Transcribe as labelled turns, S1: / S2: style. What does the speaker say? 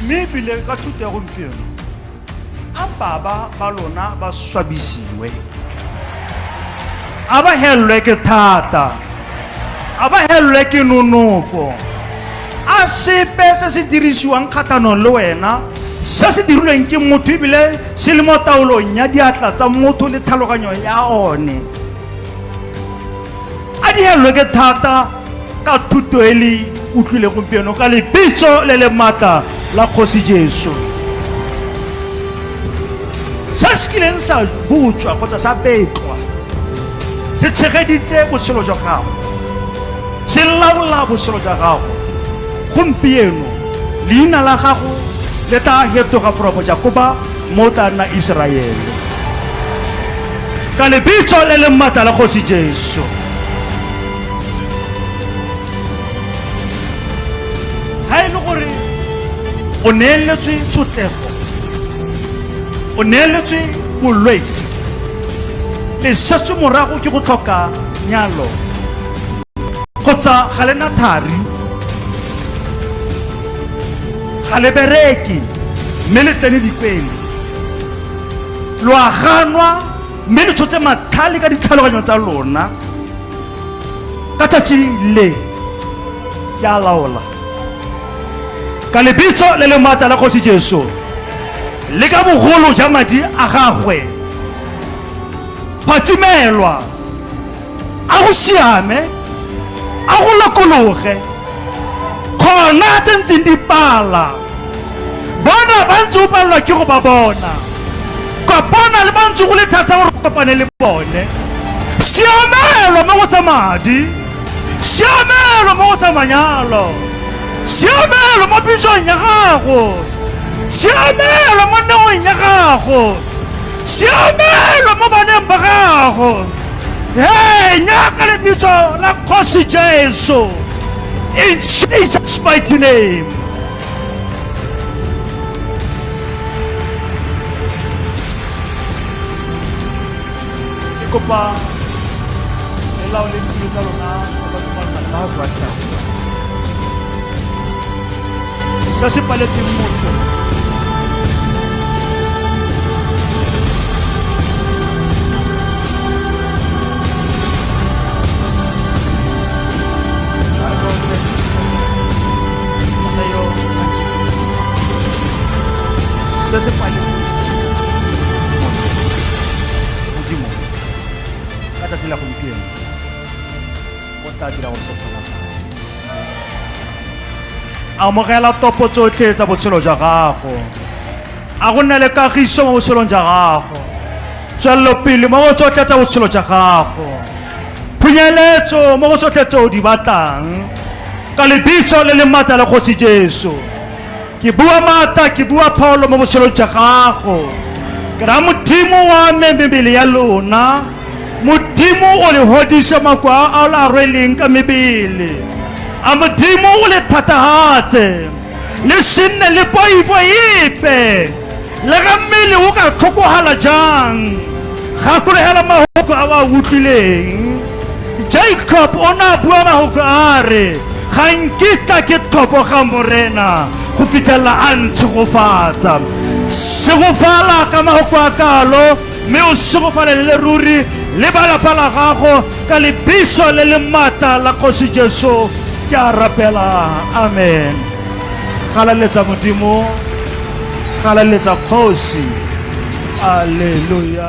S1: mme ebile ka thuto ya gompieno a baba ba lona ba swabisiwe a ba helelwe ke thata a ba helelwe ke nonofo a sepe se se dirisiwang kgatlhanong le wena se se dirilweng ke motho ebile se le mo taolong ya diatla tsa motho le tlhaloganyo ya one a dihelwe ke thata ka thuto e le utlwile gompieno ka lebitso le le maatla la kgosi jesu se se kileng sa butswa kgotsa sa betlwa se tshegeditse botshelo jwa gago se laola botshelo jwa gago gompieno leina la gago le tla fetoga foropo jakoba mo tla nna Iseraele. Ka lebitso le leng matla la Kgosi Jesu. Ha e le gore o neeletswe tshotlego, o neeletswe bolwetse, le setswe morago ke go tlhoka nyalo kgotsa ga lena thari ga le bereke mme le tsene dikwele lo a ganwa mme le tshotse matlhale ka ditlhaloganyo tsa lona ka tsatsi le ke a laola ka lebitso le le maatla la kgosi jesu le ka bogolo ja madi a gagwe phatsimelwa a go siame a go lokologe kgona tse ntseng di pala bona ba ntse o palelwa ke go ba bona kopana le ba ntse go le thata gore o kopane le bone siamelo mo go tsa madi siamelo mo go tsa manyalo siamelo mo pitsong ya gago siamelo mo neong ya gago siamelo mo baneng ba gago hey nyaka lebitso la kgosi jesu in jesus mighty name ke kopa lelao le ditulo tsa lona se se paletseng motho se se paletseng modimo ka tsatsi la gompieno o tla dira gore se kgonagale amogela topo tsotlhe tsa botshelo jwa gago a go nne le kagiso mo botshelong jwa gago tswelelopele mo go tsotlhe tsa botshelo jwa gago phunyeletso mo go tsotlhe tse o di batlang ka lebitso le le maatla la kgosi jesu Ke bua maata, ke bua pholo mo botshelong jwa gago. Ke ra Modimo wa me mebele ya lona. Modimo o le hodise mako a a la rweleng ka mebele. A Modimo o le thatahatse. Le sinne le poifo epe. Le ga mmele o ka tlhokogala jang, gakologela mahoko a o a utlwileng. Jacob o ne a bua mahoko a re, Ga nkitla ke tlhoboga Morena go fitlhelela a ntshegofatsa. Segofala ka mahoko a kalo, mme o segofalele le ruri le ba lapa la gago ka lebiso le le maatla la Kgosi Jesu ke a rapela. Amen. galaletsa modimo galaletsa kgosi aleluya